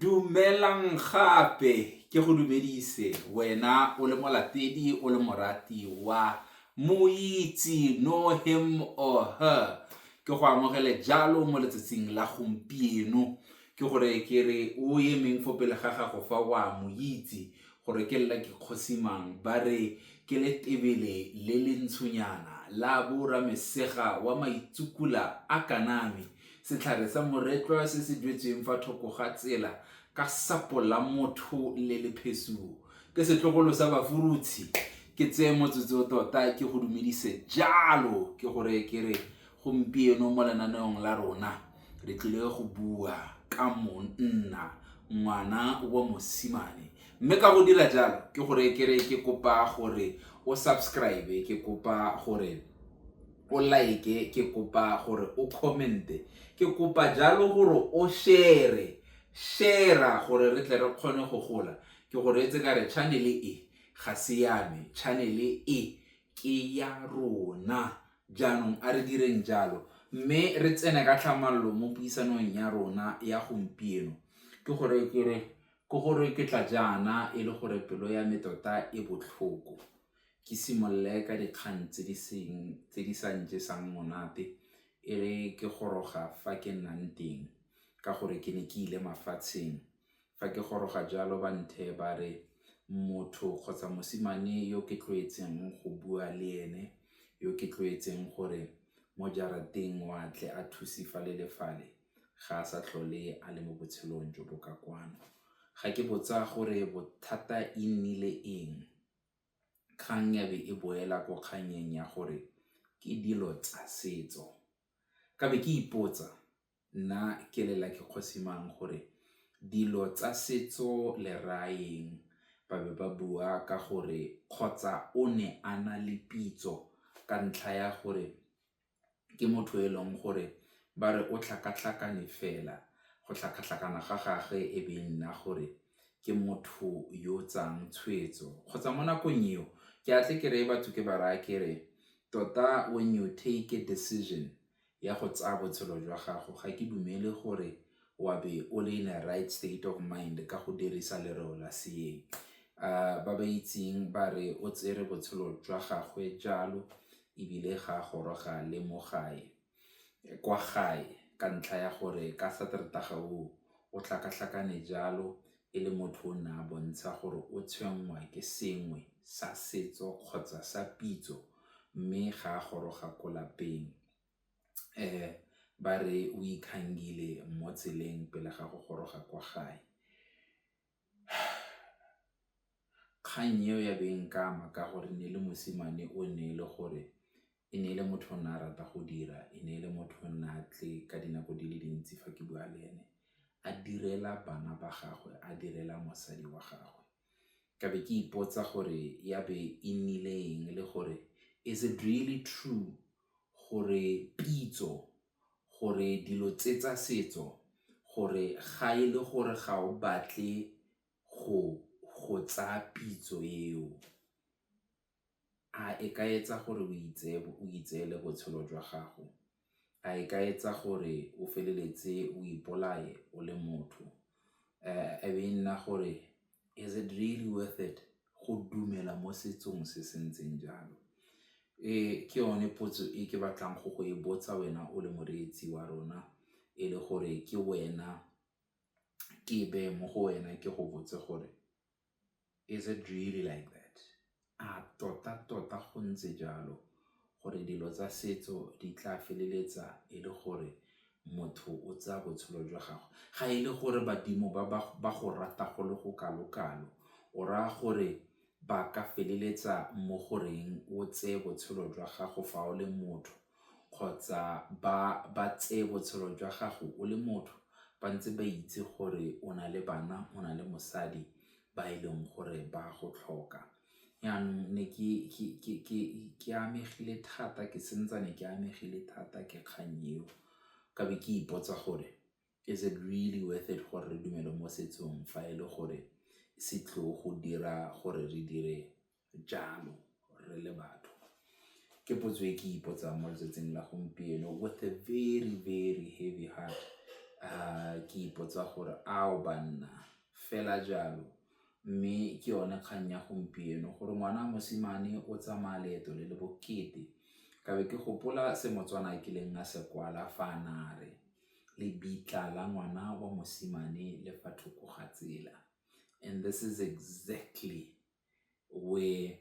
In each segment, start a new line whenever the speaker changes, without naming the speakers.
Dumelang gape ke go dumedise wena o le molatedi o le morati wa moitse no him or her ke go amogele jalo mo letsatsing la gompieno ke gore ke re o emeng fo pele ga gago fa wa mo itse gore ke lla ke kgosimang ba re ke le tebele le le ntshonyana la bo ramesega wa maitsukula a kaname Setlhare sa moretlwa se se jwetsweng fa thoko ga tsela ka sapo la motho le le phesuo. Ke setlogolo sa bafurutshi. Ke tseye motsotso tota ke go dumedise jalo ke gore ke re gompieno mo lenaneong la rona re tlile go bua ka monna ngwana wa mosimane mme ka go dira jalo ke gore ke re ke kopa gore o subscribe ke kopa gore o like ke kopa gore o comment-e ke kopa jalo gore o share share-a gore re tle re kgone go gola ke gore etse ka re channel e ga se yame channel e ke ya rona jaanong a re direng jalo mme re tsene ka tlhamallo mo puisanong ya rona ya gompieno ke gore ke re ke gore ke tla jaana e le gore pelo ya me tota e botlhoko ke simolole ka dikgang tse di sa njesang monate e re ke goroga fa ke nnang teng ka gore ke ne ke ile mafatsheng. Fa ke goroga jalo ba ntheye ba re motho kgotsa mosimane yo ke tlwaetseng go bua le ene, yo ke tlwaetseng gore mo jarateng o a tle a thuse fale le fale ga a sa tlhole a le mo botshelong jo bo ka kwano. Ga ke botsa gore bothata e nnile eng? kgang ya be e boela ko kgannyeng ya gore ke dilo tsa setso. Ka be ke ipotsa nna ke lela ke kgosi mang gore dilo tsa setso le rayeng? Ba be ba bua ka gore kgotsa o ne a na le pitso ka ntlha ya gore ke motho e leng gore ba re o tlhakatlhakane fela, go tlhakatlhakana ga gagwe e be e nna gore ke motho yo o tsayang tshwetso. Kgotsa mo nakong eo, ke a tle ke reye batho ke ba raya ke re, tota when you take a decision ya go tsaya botshelo jwa gago, ga ke dumele gore wa be o le in a right state of mind ka go dirisa lereo la seeng. Ba ba itseng ba re o tsere botshelo jwa gagwe jalo, ebile ga a goroga le mo gae, kwa gae ka ntlha ya gore ka Sateretaga oo o tlhakatlhakane jalo e le motho o ne a bontsha gore o tshwenngwa ke sengwe sa setso kgotsa sa pitso mme ga a goroga ko lapeng. Ba re o ikgangile mo tseleng pele ga go goroga kwa gae. Kgang eo ya be e nkama ka gore ne e le mosimane o ne e le gore e ne e le motho o ne a rata go dira, e ne e le motho o ne a tle ka dinako di le dintsi fa ke bua le ene a direla bana ba gagwe, a direla mosadi wa gagwe. Ka be ke ipotsa gore ya be e nnile eng le gore is it really true gore pitso. gore dilo tse tsa setso gore ga e le gore ga o batle go go tsaya pitso eo, a e ka etsa gore o itseye o itseele botshelo jwa gago? A e ka etsa gore o feleletse o ipolaye o le motho? E be e nna gore is it really worth it go dumela mo setsong se se ntseng jalo? E ke yone potso e ke batlang go go e botsa wena o le moreetsi wa rona e le gore ke wena ke beye mo go wena ke go botse gore is it really like that? A totatota go ntse jalo gore dilo tsa setso di tla feleletsa e le gore motho o tsaya botshelo jwa gagwe? Ga e le gore badimo ba ba go rata go le go kalo-kalo, o raya gore ba ka feleletsa mo go reng o tseye botshelo jwa gago fa o le motho kgotsa ba tseye botshelo jwa gago o le motho ba ntse ba itse gore o na le bana, o na le mosadi ba e leng gore ba a go tlhoka. Jaanong ne ke amegile thata ke santsane ke amegile thata ke kgang eo ka be ke ipotsa gore is it really worth it gore re dumele mo setsong fa e le gore se tlo go dira gore re dire. jalo re le batho ke potso e ke ipotsang mo letsatsing la gompieno with a very very heavy heart uh, ke ipotsa gore ao banna fela jalo mme ke yone kgang ya gompieno gore ngwana mosimane o tsamaya leeto le le bokete kabe ke gopola se motswana a kileng a se kwala fa a nare lebitla la ngwana wa mosimane le fa thoko ga tsela and this is exactly where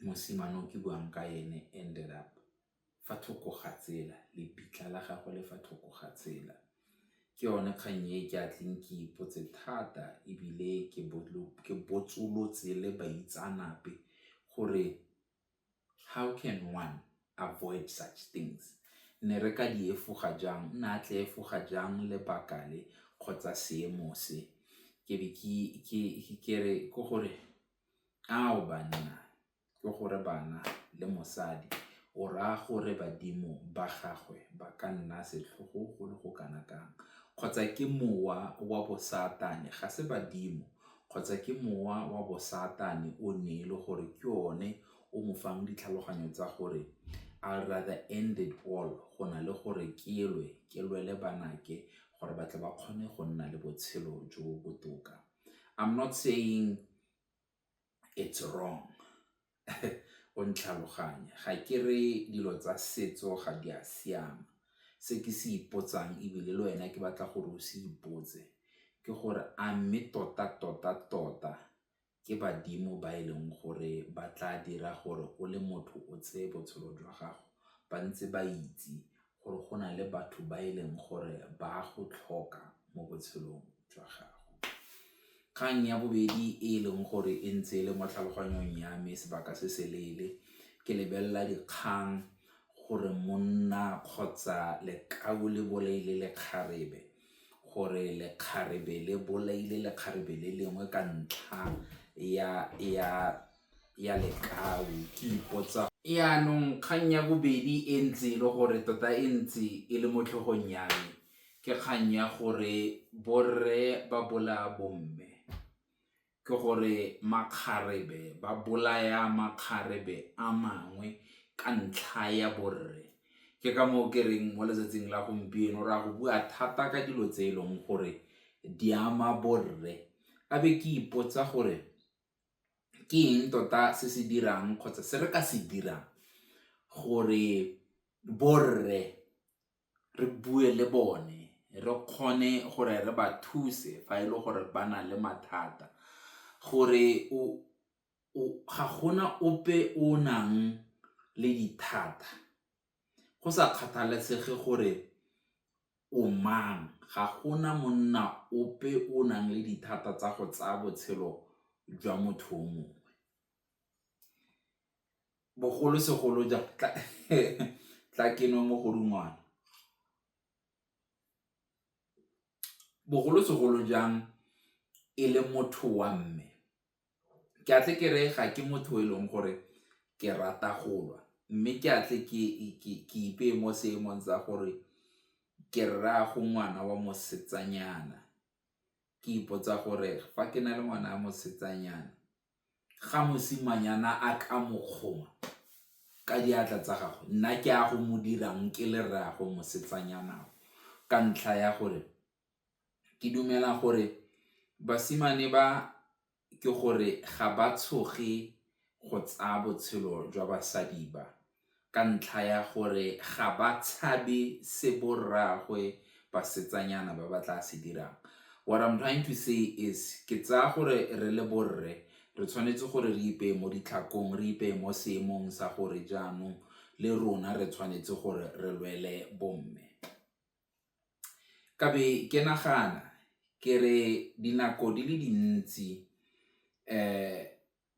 mosimane o ke buang ka ene ended up fa thoko ga tsela, lebitla la gagwe le fa thoko ga tsela. Ke yone kgang e ke a tleng ke ipotse thata ebile ke botsolotse le baitseanape gore How can one avoid such things? Ne re ka di efoga jang? Nna a tle efoga jang lebaka le kgotsa seemo se? Ke be ke re ko gore ao banna, ko gore bana le mosadi o raya gore badimo ba gagwe ba ka nna setlhogo go le go kana kang kgotsa ke mowa wa bo satane ga se badimo kgotsa ke mowa wa bo-Satan-e o ne e le gore ke one o mo fang ditlhaloganyo tsa gore I rather end it all go na le gore ke lwe, ke lwele banake gore ba tle ba kgone go nna le botshelo jo bo botoka. I'm not saying it's wrong. o ntlhaloganye, ga ke re dilo tsa setso ga di a siama. Se ke se ipotsang ebile le wena ke batla gore o se ipotse ke gore a mme tota-tota-tota ke badimo ba e leng gore ba tla dira gore o le motho o tseye botshelo jwa gago ba ntse ba itse gore go na le batho ba e leng gore ba go tlhoka mo botshelong jwa gago. Kgang ya bobedi e e leng gore e ntse e le mo tlhaloganyong ya me sebaka se se leele ke lebelela dikgang gore monna kgotsa lekau le bolaile lekgarebe gore lekgarebe le bolaile lekgarebe le lengwe ka ntlha ya ya Lekau. Ke ipotsa. Jaanong kgang ya bobedi e ntse e le gore tota e ntse e le mo tlhogong ya me ke kgang ya gore borre ba bolaya bomme ke gore makgarebe ba bolaya makgarebe a mangwe ka ntlha ya borre ke ka moo ke reng mo letsatsing la gompieno ra go bua thata ka dilo tse e leng gore di ama borre a be ke ipotsa gore ke eng tota se se dirang kgotsa se re ka se dirang gore borre re bue le bone re kgone gore re ba thuse fa e le gore ba na le mathata gore ga gona ope o nang le dithata. Go sa kgathalesege gore o mang, ga gona monna ope o nang le dithata tsa go tsaya botshelo jwa motho o mongwe. Bogolosegolo jang tla ke nwe mogodungwana, bogolosegolo jang e le motho wa mme. ke a tle ke re ga ke motho e leng gore ke rata go lwa mme ke a tle ke ipeye mo seemong tsa gore ke rraago ngwana wa mosetsanyana ke ipotsa gore fa ke na le ngwana wa mosetsanyana ga mosimanyana a ka mokgoma ka diatla tsa gagwe nna ke a go mo dirang ke le rraago mosetsanyana ka ntlha ya gore ke dumela gore basimane ba ke gore ga ba tshoge go tsaya botshelo jwa basadi ba ka ntlha ya gore ga ba tshabe se bo rraagwe basetsanyana ba ba tla se dirang what I'm trying to say is ke tsaya gore re le borre re tshwanetse gore re ipeye mo ditlhakong re ipeye mo seemong sa gore jaanong le rona re tshwanetse gore re lwele bomme. Ka be ke nagana ke re dinako di le dintsi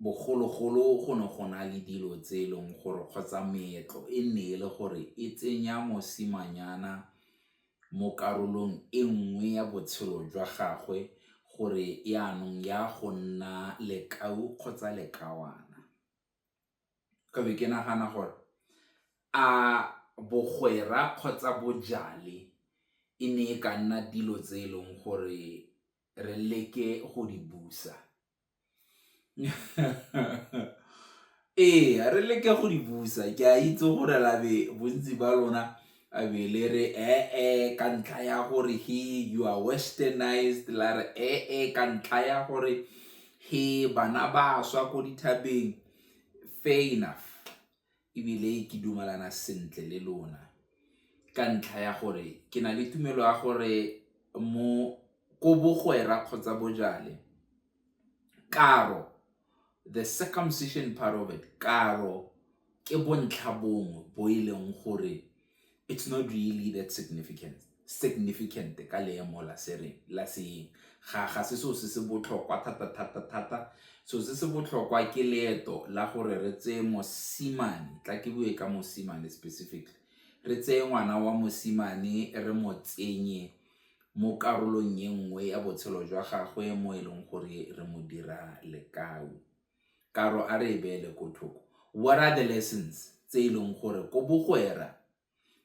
bogologolo go ne go na le dilo tse e leng gore kgotsa meetlo e nne e le gore e tsenya mosimanyana mo karolong e nngwe ya botshelo jwa gagwe gore yanong ya go nna lekau kgotsa lekawana. ka be ke nagana gore a bogwera kgotsa bojale e ne e ka nna dilo tse e leng gore re leke go di busa ee re leke go di busa ke a itse gore labe bontsi ba lona A be le re ee ka ntlha ya gore he you are westernized la re ee ka ntlha ya gore he bana ba swa ko dithabeng fair enough ebile ke dumalana sentle le lona ka ntlha ya gore ke na le tumelo ya gore mo ko bogwera kgotsa bojale karo The circumcision part of it, karo ke bontlha bongwe bo e leng gore it's not really that significant significant ka leemo la se reng la seeng ga ga se so se se botlhokwa thata thata thata so se se botlhokwa ke leeto la gore re tseye mosimane tla ke bue ka mosimane specifically re tseye ngwana wa mosimane re mo tsenye mo karolong e nngwe ya botshelo jwa gagwe mo e leng gore re mo dira lekau. Karo a re e beele ko thoko. What are the lessons tse e leng gore ko bogwera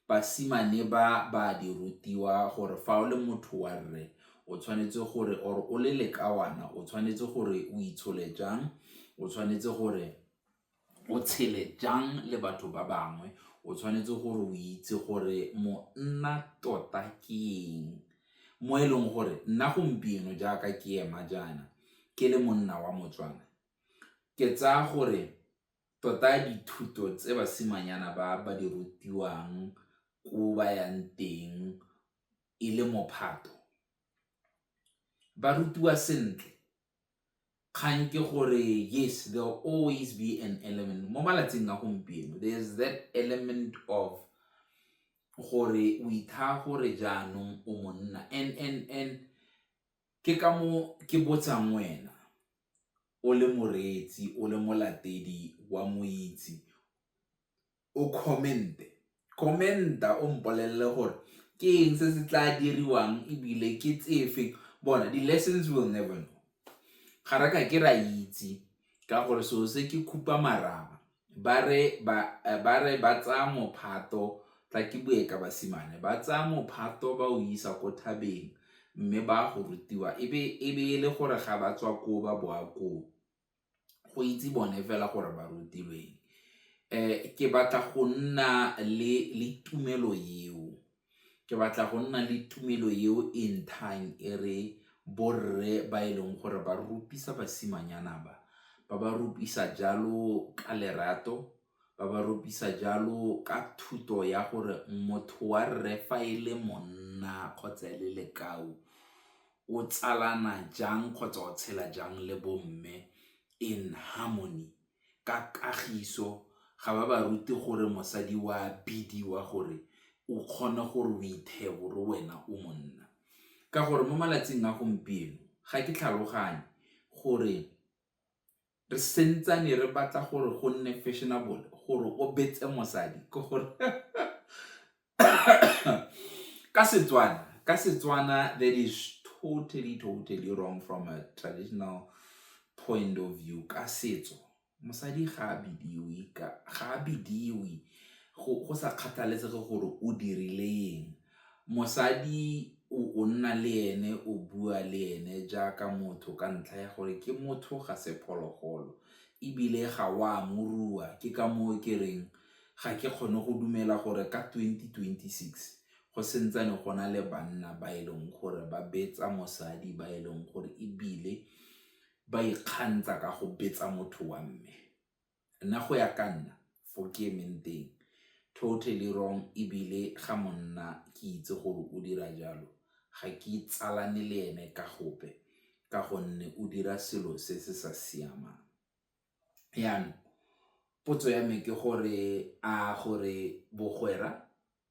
basimane ba ba di rutiwa gore fa o le motho wa rre o tshwanetse gore or o le lekawana o tshwanetse gore o itshole jang, o tshwanetse gore o tshele jang le batho ba bangwe, o tshwanetse gore o itse gore monna tota ke eng mo e leng gore nna gompieno jaaka ke ema jaana ke le monna wa Motswana ke tsaya gore tota dithuto tse basimanyana ba ba di rutiwang ko ba yang teng e le mophato ba rutiwa sentle kgang ke gore yes there will always be an element mo malatsing a gompieno there is that element of gore o ithaa gore jaanong o monna and and and ke ka mo ke botsang wena o le moreetsi o le molatedi wa moitse o comment-e, comment-a o mpolelele gore ke eng se se tla diriwang ebile ke tsefe bona di-lessons will never know. Ga re ka ke ra itse ka gore selo se ke khupa marama ba re ba tsaya mophato tla ke bue ka basimane ba tsaya mophato ba o isa ko thabeng mme ba go rutiwa e be e le gore ga ba tswa koo ba boa koo. go itse bone fela gore ba rutilweng ke batla go nna le tumelo eo ke batla go nna le tumelo eo e nthang e re borre ba e leng gore ba rupisa basimanyana ba, ba ba rupisa jalo ka lerato ba ba ropisa jalo ka thuto ya gore motho wa rre fa e le monna kgotsa e le lekau o tsalana jang kgotsa o tshela jang le bomme in harmony. Ka kagiso ga ba ba rute gore mosadi o a bidiwa gore o kgone gore o ithebore wena o monna ka gore mo malatsing a gompieno ga ke tlhaloganye gore re sentsane re batla gore go nne fashionable gore o betse mosadi ke gore ka Setswana ka Setswana that is totally totally wrong from a traditional point of view ka setso mosadi ga a bidiwe ga a bidiwe go sa kgathalesege gore o dirile eng Mosadi o nna le ene o bua le ene jaaka motho ka ntlha ya gore ke motho ga se phologolo ebile ga o a mo rua ke ka moo ke reng ga ke kgone go dumela gore ka twenty twenty six go santsane go na le banna ba e leng gore ba betsa mosadi ba e leng gore ebile ba ikgantsha ka go betsa motho wa mme. Nna go ya ka nna fo ke emeng teng totally wrong ebile ga monna ke itse gore o dira jalo ga ke itsalane le ene ka gope ka gonne o dira selo se se sa siamang. Jaanong potso ya me ke gore a gore bogwera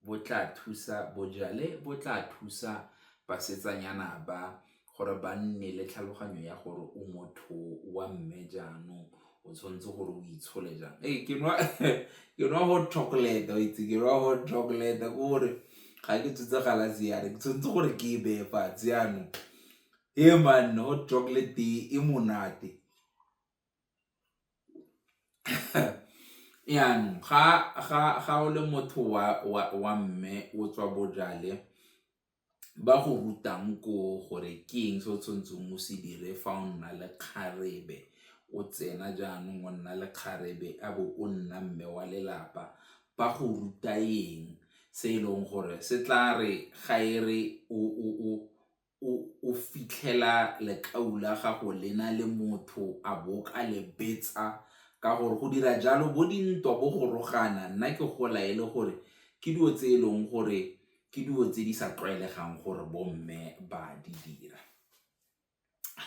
bo tla thusa, bojale bo tla thusa basetsanyana ba gore ba nne le tlhaloganyo ya gore o motho wa mme jaanong, o tshwanetse gore o itshole jang. Ee, ke nwa hot chocolate, wa itse ke nwa hot chocolate ke gore ga ke tshotse galase yana, ke tshwanetse gore ke e beye fatshe yanong, hee man hot chocolate e monate. Yanong ga o le motho wa mme o tswa bojale ba go rutang ko gore ke eng se o tshwanetseng o se dire fa o nna le kgarebe, o tsena jaanong o nna le kgarebe a bo o nna mme wa lelapa ba go ruta eng se e leng gore se tla re ga e re o o fitlhela lekau la gago le na le motho a bo ka le betsa ka gore go dira jalo bo dintwa bo go rogana nna ke gola e le gore ke dilo tse e leng gore ke dilo tse di sa tlwaelegang gore bomme ba di dira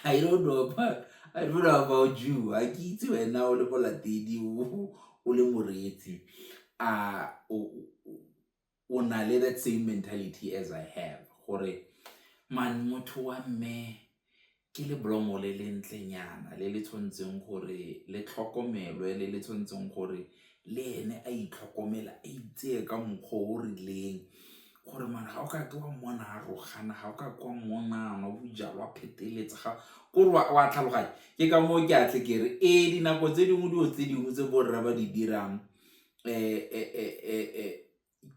I don't know about I don't know about you a ke itse wena o le molatedi o le moreetsi a o na le that same mentality as I have gore man motho wa mme ke le blomo le le ntlenyana le le tshwanetseng gore le tlhokomelwe le le tshwanetseng gore le ene a itlhokomela a itseye ka mokgwa o rileng gore man ga o ka ke wa mmona a rogana ga o ka kwa mmona nwa bojalwa pheteletsa ga kore wa tlhaloganya ke ka moo ke atle ke re ee dinako tse dingwe dilo tse dingwe tse borra ba di dirang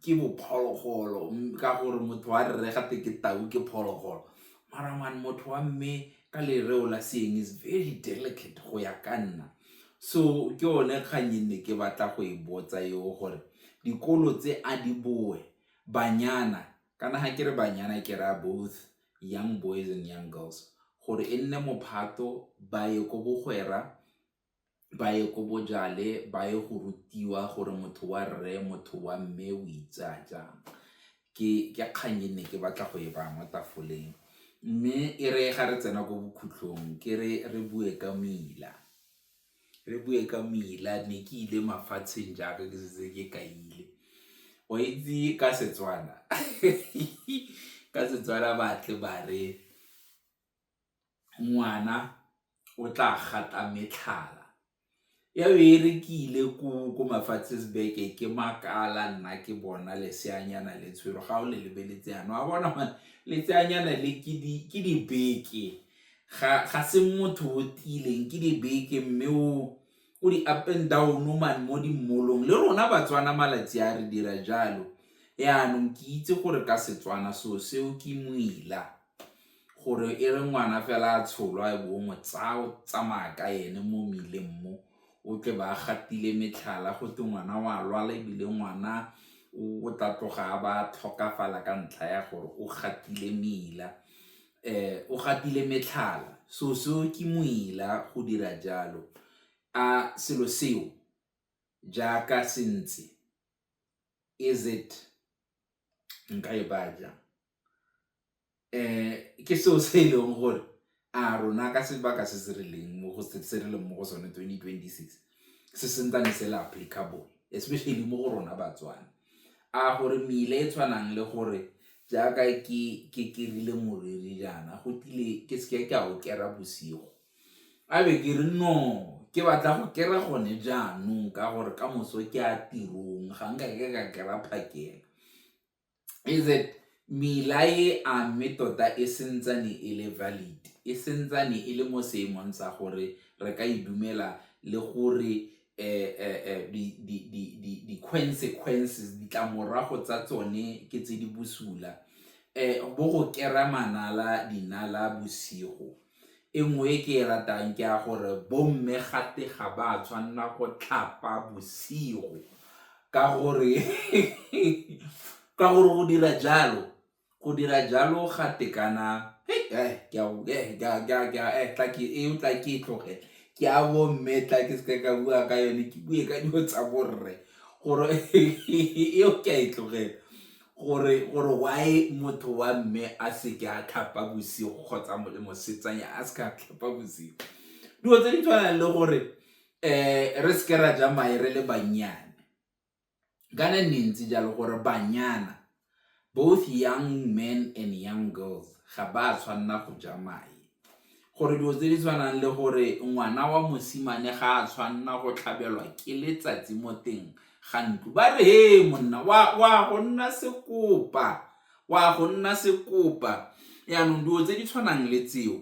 ke bo phologolo ka gore motho wa rre gate ke tau ke phologolo mara man motho wa mme ka lereo la seeng is very delicate go ya ka nna so ke yone kgang e nne ke batla go e botsa eo gore dikolo tse a di boe banyana kana ga ke re banyana ke raya both young boys and young girls gore e nne mophato ba ye ko bogwera ba ye ko bojale ba ye go rutiwa gore motho wa rre motho wa mme o itsaya jang ke kgang e ne ke batla go e baya mo tafoleng mme e re ga re tsena ko bokhutlhong ke re re bue ka mmila re bue ka mmila ne ke ile mafatsheng jaaka ke setse ke ka ile o itse ka Setswana ka Setswana batle ba re. ngwana o tla gata metlhala, ya be e rekile ko mafatsheng beke ke makala nna ke bona leseanyana le tshwere ga o le lebeletse yana wa bona gore leseanyana le ke dibeke ga se motho o tiileng ke dibeke mme o o di up and down man mo di mall-ong le rona Batswana malatsi a re dira jalo, yanong ke itse gore ka Setswana seo seo ke moila. gore e re ngwana fela a tsholwa e be o mo tsaya o tsamaya ka ene mo mmileng mo o tle ba gatile metlhala go twe ngwana o a lwala ebile ngwana o tla tloga a ba tlhokafala ka ntlha ya gore o gatile mmila o gatile metlhala so seo ke moila go dira jalo a selo seo jaaka se ntse is it nka e baya jang. um ke seo se e leng gore a rona ka sebaka se se rileng mo go se re leng mo go sone twenty twenty six se sentsane se le applicable especially mo go rona batswana a gore meile e tshwanang le gore jaaka ke ke ke rile moriri jaana go tlile ke seke ka o kera bosigo a be ke re no ke batla go kera gone jaanong ka gore ka moso ke a tirong ga nka ke ka kera phakela is that mela e a mme tota e sentsane e le valid e sentsane e le mo seemong sa gore re ka e dumela le gore eh, eh, eh, di-consequences ditlamorago tsa tsone ke tse di bosula um bo go kera manala dinala bosigo E nngwe e ke e ratang ke ya gore bomme gate ga ba tshwanela go tlhapa bosigo ka gore ka gore go dira jalo go dira jalo ga tekana eo tla ke e tloge ke a bomme tla ke seke ka bua ka yone ke bue ka dilo tsa borre gore eo ke a e tlogela Gore why motho wa mme a seke a tlhapa bosigo kgotsa le mosetsanya a seke a tlhapa bosigo dilo tse di tshwanang le gore um re seke ra ja mae re le bannyane kana nne ntse jalo gore banyana both young men and young girls ga ba tshwanela go ja mae gore dilo tse di tshwanang le gore ngwana wa mosimane ga a tshwanna go tlhabelwa ke letsatsi mo teng ga ntlo ba re he monna wa go nna sekopa wa go nna sekopa yaanong dilo tse di tshwanang le tseo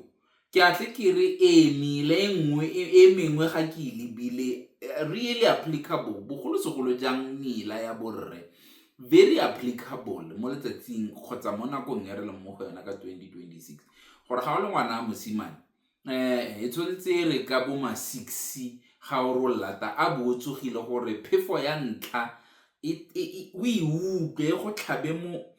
ke a tle ke re ee mele e nngwe e, e mengwe ga ke e lebile eh, really applicable bogolosegolo jang mela ya borre very applicable mo letsatsing kgotsa mo nakong e re leng mo go yona ka 2026 gore ga o le ngwana wa mosimane e tshwanetse e re ka bo ma six ga o re lata a bo o tsogile gore phefo ya ntlha o e utlwe go tlhabe mo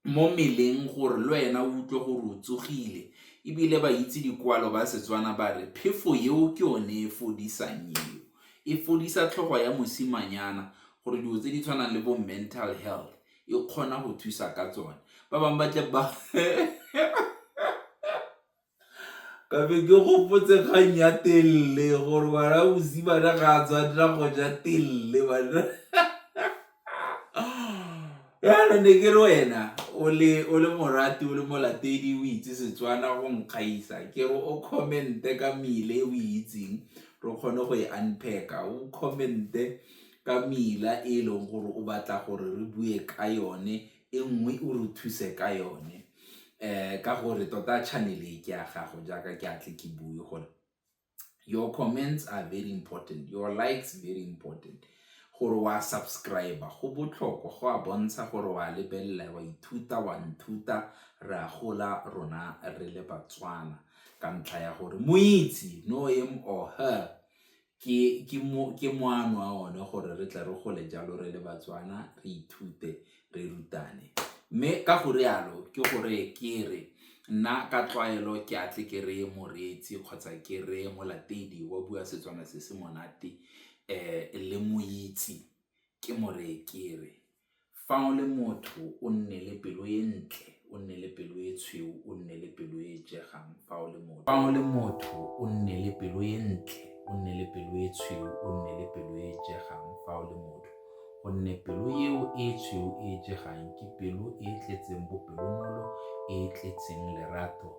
mo mmeleng gore le wena o utlwe gore o tsogile, ebile ba itse dikwalo ba Setswana ba re phefo eo ke yone e fodisang eo, e fodisa tlhogo ya mosimanyana gore dilo tse di tshwanang le bo mental health e kgona go thusa ka tsone, ba bangwe ba tle ba ka be ke gopotse kgang ya telle gore ngwana mosimane ga a tshwanela go ja telle bana yana ne ke re wena o le o le morati o le molatedi o itse setswana go nkgaisa ke re o commente ka mele o itseng re kgone go e unpacka o commente ka meila e e leng gore o batla gore re bue ka yone, e nngwe o re thuse ka yone um ka gore tota channel e ke ya gago jaaka ke a tle ke bue gore your comments are very important, your likes very important gore wa subscribe-a go botlhokwa go a bontsha gore wa lebelela wa ithuta wa nthuta re a gola rona re le Batswana ka ntlha ya gore moitse, know him or her, ke moano wa one gore re tle re gole jalo re le Batswana re ithute re rutane. Mme ka go rialo ke gore ke re nna ka tlwaelo ke a tle ke reye moreetsi kgotsa ke reye molatedi wa bua Setswana se se monate le mo itse ke mo reye ke re. Fa o le motho, o nne le pelo e ntle, o nne le pelo e tshweu, o nne le pelo e e jegang. Fa o le motho. Fa o le motho, o nne le pelo e ntle, o nne le pelo e tshweu, o nne le pelo e e jegang. Fa o le motho. Gonne pelo eo e e tshweu e e jegang ke pelo e e tletseng bopelonolo, e e tletseng lerato,